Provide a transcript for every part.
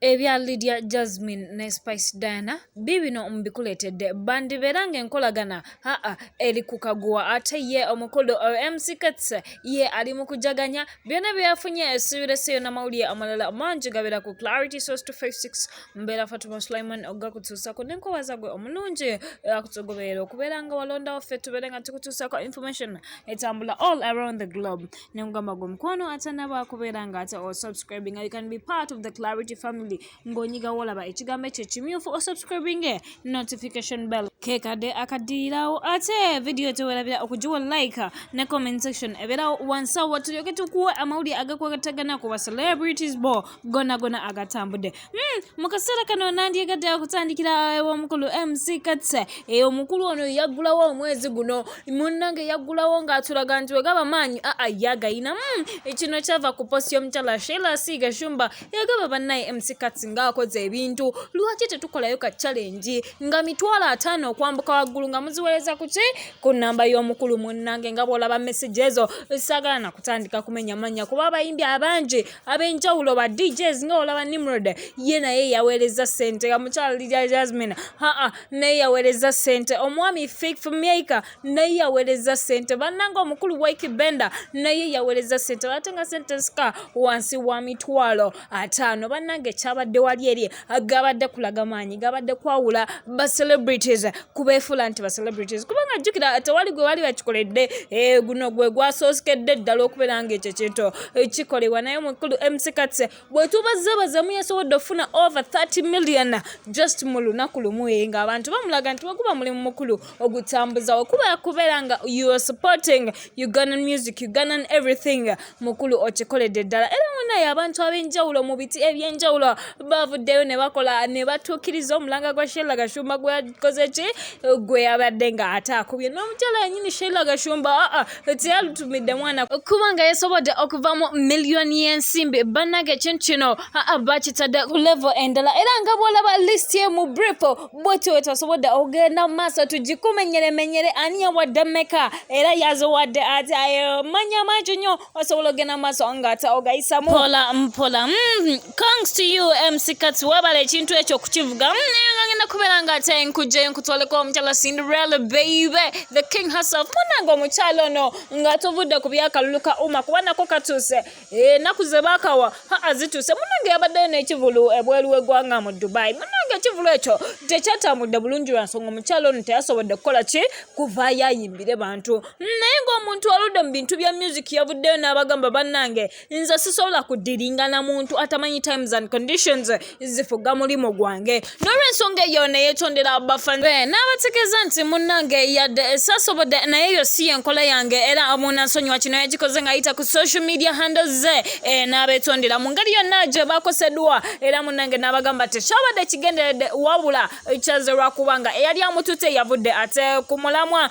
Ebya Lydia Jazmine ne Spice Diana biibino mbikuleetedde. Bandibeera ng'enkolagana haa eri ku kaguwa ate ye omukulu MC Kats ye ali mu kujaganya byonna bye yafunye esibireseeyo n'amawulire amalala mangi gabeera ku Clarity Source 256 mbeera Fatuma Sulaiman okugakutuusako ne nkubaza gwe omulungi akutugoberera okubeera nga walondawo ffe tubeere nga tukutuusako information etambula all around the globe. ne nkugamba gwe mukwano atanaba kubeera nga ate osubscribinga you can be part of the clarity family ng'onyiga wolaba ekigambo ekyo kimyufu osubscribinge notification bell kekadde akaddirirawo ate vidiyo tewerabira okugiwa like ne comment section ebeerawo wansawo tulyoke tukuwe amawulire agakwatagana ku ba celebrities bo gona gona agatambudde Hmm, mu kaseera kano nandyegadde okutandikira ew'omukulu mc katse eyo eh, omukulu ono yaggulawo omwezi guno munnange yaggulawo ng'atulaga nti wegaba maanyi aa ah, ah, yagayina hmm, kino kyava ku posti y'omukyala sheila siiga shumba yagaba bannaye mc katse ng'akoze ebintu lwaki tetukolayo ka challenge nga mitwalo ataano okwambuka waggulu nga muziweereza ku ki ku nnamba y'omukulu munnange nga bw'olaba message ezo saagala nakutandika kumenya mannya kuba abayimbi abangi ab'enjawulo ba DJs nga olaba Nimrod ye naye yaweereza ssente nga mukyala Lydia Jasmine haa naye yaweereza ssente omwami Fik Maker naye yaweereza ssente bannanga omukulu Wiki Bender naye yaweereza ssente ate nga ssente zika wansi wa mitwalo ataano bannanga ekyabadde wali eri gabadde kulaga maanyi gabadde kwawula ba celebrities kubeefuula nti ba celebrities kubanga jjukira tewali gwe wali bakikoledde eh, guno gwe gwasooskedde ddala okubeera nga ekyo kintu eh, kikolebwa naye mukulu mckats bwetubazebazamu yasobodde okufuna over 30 million just mu lunaku lumu eh, ngaabantu bamulaga nti weguba mulimu mukulu ogutambuza okuba kubeera nga you are supporting ugandan music ugandan everything mukulu okikoledde ddala era munaye abantu ab'enjawulo mu biti eby'enjawulo bavuddeyo ne bakola ne batuukiriza omulanga gwa sheila gashumba gwe yakoze ki gwe yabadde nga ate akubye n'omukyala yenyini sheila gashumba aa ah, ah, teyalutumidde mwana kuba nga yasobodde okuvamu miliyoni y'ensimbi bannange ekintu kino aa ah, bakitadde ku levo endala era nga bwolaba list ye mu brief bwetyo wetasobodde okugenda mu maaso tugikumenyeremenyere ani yawadde meka era yaziwadde ati manyi amangi nnyo osobola okugenda mu maaso nga ata ogayisamu mpola mpola mm, congs to you mckats webala ekintu ekyo okukivuga ngenda mm, kubeera nga ate nkujjayo nkutwaleko omukyala cinderella baby the king herself munange omukyala ono nga tuvudde ku byakalulu ka uma kuba nako katuuse enaku eh, zebakawa haa zituuse munange yabaddeyo n'ekivulu ebweru w'eggwanga mu dubai munange ekivulu ekyo tekyatambudde bulungi lwa nsonga omukyalo ono teyasobodde kukola ki kuvaayo ayimbire bantu naye ng'omuntu aludde mu bintu bya music yavuddeyo n'abagamba bannange nze sisobola kudiringana muntu atamanyi times and conditions zifuga mulimu gwange n'olwensonga eyo neyetondera bafanbe n'abategeeza nti munnange yadde sasobodde naye eyo si yenkola yange era munansonyiwa kino yagikoze ng'ayita ku social media handle ze e, n'abetondera mu ngeri yonna gye bakoseddwa era munnange n'abagamba tekyabadde kigenderedde wabula kyaze lwakuba nga eyali amututte yavudde ate ku mulamwa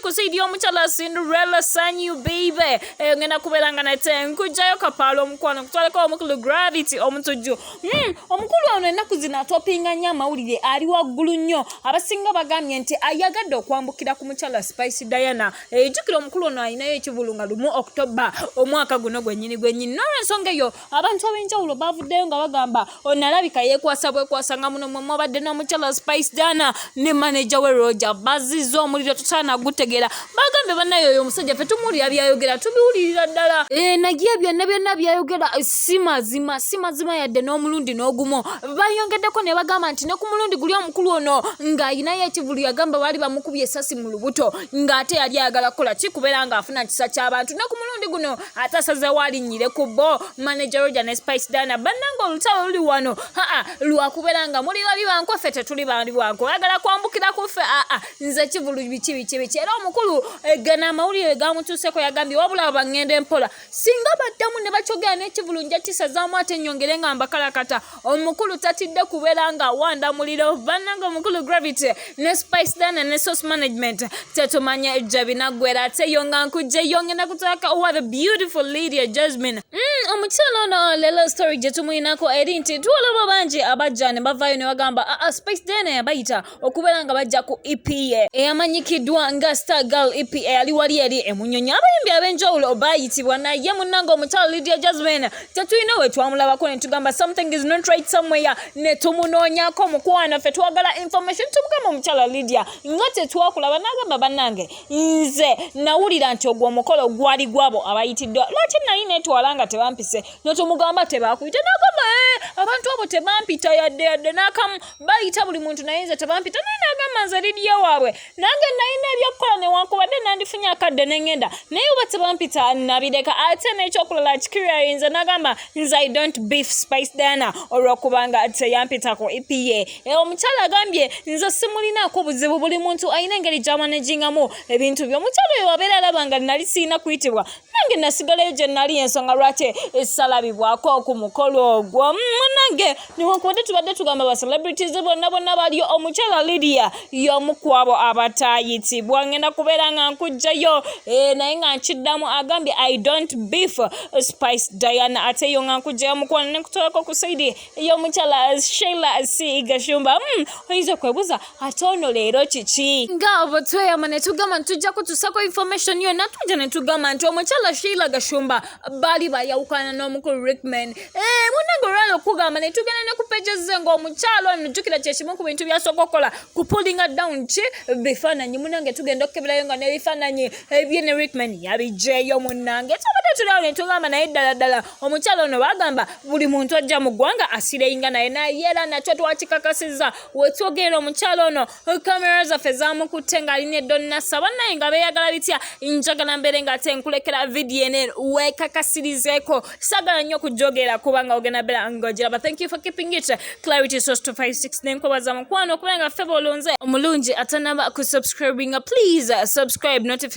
kusaidia omukyala Cinderella Sanyu baby eh, ngenda kubeera nga nate nkujjayo kapaala omukwano kutwaleko omukulu gravity omutujju mm, omukulu ono ennaku zino atopinga nnyo amawulire ali waggulu nnyo abasinga bagambye nti ayagadde okwambukira ku mukyala spice diana ejjukira eh, omukulu ono alinayo ekivulu nga lumu oktoba omwaka guno gwennyini gwennyini nolwensonga eyo abantu ab'enjawulo baavuddeyo nga bagamba ono alabika yeekwasa bwekwasa nga muno mwe mwabadde n'omukyala spice dana ne maneja we roja bazizza omuliro tosaana gutegeera bagambye bannaye oyo omusajja fe tumuwulira byayogera tubiwulirira ddala eh, naye byonna byonna byayogera eh, si mazima si mazima yadde n'omulundi n'ogumu bayongeddeko ne bagamba nti ne ku mulundi guli omukulu ono ng'alinayo ekivulu yagamba baali bamukubye esasi mu lubuto ng'ate yali ayagala kukola kikubeera ng'afuna kisa ky'abantu ne ku mulundi guno ate asazeewo alinnyire ku bo manager roger ne spice dana bannanga olutalo luli wano aa lwakubeera nga muli bali banku ffe tetuli bali banku oyagala kwambukira ku ffe aa nze kivulu biki biki biki era omukulu egana eh, amawulire gamutuuseko yagambye wabula abangenda empola singa baddamu ne bakyogera n'ekivulu nja kisazaamu ate nnyongere nga mbakalakata omukulu tatidde kubeera nga awanda muliro bannanga omukulu gravity ne spice dana ne source management tetumanya ejja binaggwera ate yo nga nkujjeyo ngenda kutaka owa the beautiful lydia jasmine mm, omukyalo ono lelo story gye tumuyinako eri nti tuwalaba bangi abajja ne bavaayo ne bagamba aa ah, ah, spice dana yabayita okubeera nga bajja ku ep ye eyamanyikiddwa nga star girl ep eyali wali eri emunyonyi abayimbi ab'enjawulo baayitibwa naye munnange omukyalo lydia jasmin tetulina we twamulabako ne tugamba something is not right somewhere ne tumunoonyako mukwano ffe twagala information tumugamba omukyala lydia nga tetwakulaba n'agamba bannange nze nawulira nti ogwo omukolo gwali gwabo abayitiddwa lwaki nali netwala nga tebampise notumugamba tebakuyita nagamba eh, abantu abo tebampita yadde yadde n'akamu bayita buli muntu naye nze tebampita naye nagamba nze lidiya waabwe nange nalina ebyokukola newankubadde nandifunye akadde nengenda naye oba tebampita nabireka ate nekyokulala kikiriayinza nagamba nze i don't beef spice dana olwokubanga teyampitako epa eh, omukyala agambye nze simulinaako buzibu buli muntu alina engeri gyamanejingamu ebintu byo omukyala oyo wabeera alabanga nali sirina kuyitibwa nange nasigalayo gye nali ensonga lwaki esalabibwako ku mukolo ogwo munange newankubadde tubadde tugamba ba celebrities bonna bonna bali omukyala lidia y'omu kwabo abataayitibwa ngenda kubeera nga nkujjayo eh, naye nga nkiddamu agambye i don't beef spice diana ate yo nga nkujjayo mukwano ne nkutwalako ku saidi y'omukyala sheila c gashumba hmm, oyinza okwebuuza ate ono leero kiki nga obo tweyama ne tugamba nti tujja kutusako information yonna tujja ne tugamba nti omukyala sheila gashumba baali bayawukana n'omukulu rickman eh, munange olwala okugamba ne tugenda ne kupejeze ng'omukyala ono jjukira kyekimu ku bintu byasooka okukola ku pullinga down ki bifaananyi munange tugenda okukeberayo nga n'ebifaananyi ebye ne rickman yabijjeeyo munange tubadde tulawo ne tugamba naye ddala ddala omukyala ono bagamba buli muntu ajja mu ggwanga asireyinga naye naye era nakyo twakikakasiza wetwogerera omukyala ono kamera zaffe zamukutte ng'ali ne donnasa bannaye nga beeyagala bitya njagala mbeere nga ate nkulekera vidiyo ene weekakasirizeeko sagala nnyo okujogera kubanga ogenda beera ng'ogiraba thank you for keeping it clarity source 256 nenkubaza mukwano okubeera nga ffe bolonze omulungi atanaba ku subscribinga please subscribe notif